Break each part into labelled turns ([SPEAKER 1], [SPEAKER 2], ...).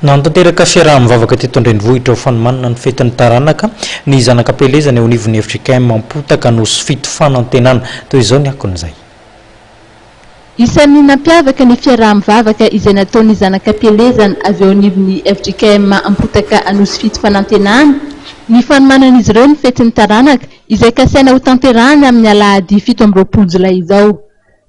[SPEAKER 1] Nanatanteraka fiaraha-mivavaka teto an-drenivohitra ho fanomanana ny fetin'ny taranaka ny zanaka am-pielezana eo anivon'ny fjkm Ampotaka Nosy fito Fanantenana. Toy izao ny akon'izay. Isan'ny
[SPEAKER 2] nampiavaka ny fiaraha-mivavaka izay nataon'ny zanaka am-pielezana avy eo anivon'ny fjkm Ampotaka Nosy fito Fanantenana ny fanomanan'izy ireo ny fetin'ny taranaka izay kasaina hotanterahana amin'ny alahady fito amby roapolo jolay izao.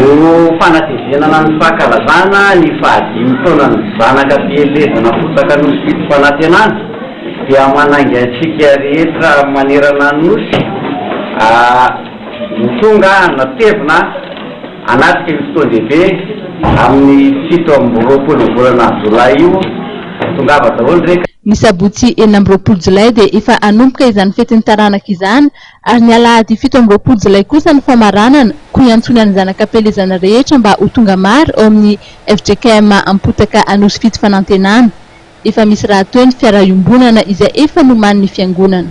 [SPEAKER 3] Ho
[SPEAKER 4] fanatevenana ny fankalazana ny fahadimy taonan'ny zanaka fielezana fotaka Nosy Didim-panantenana dia manainga antsika rehetra manerana ny Nosy ho tonga hanatevina hanatrika io fotoan-dehibe amin'ny fito amby roapolo ny volana jolay io. Tongava daholo re ka. Ny sabotsy enina
[SPEAKER 2] amby roapolo jolay dia efa hanomboka izany fetin'ny taranaka izany Ary ny alahady fito amby roapolo jolay kosa ny famaranana, koa iantsoana ny zanak'ampielezana rehetra mba ho tonga maro ao amin'ny fjkm Ampotaka Anosifidy Fanantenana. Efa misy rahateo ny fiaraha-iombonana izay efa nomanin'ny Fiangonana.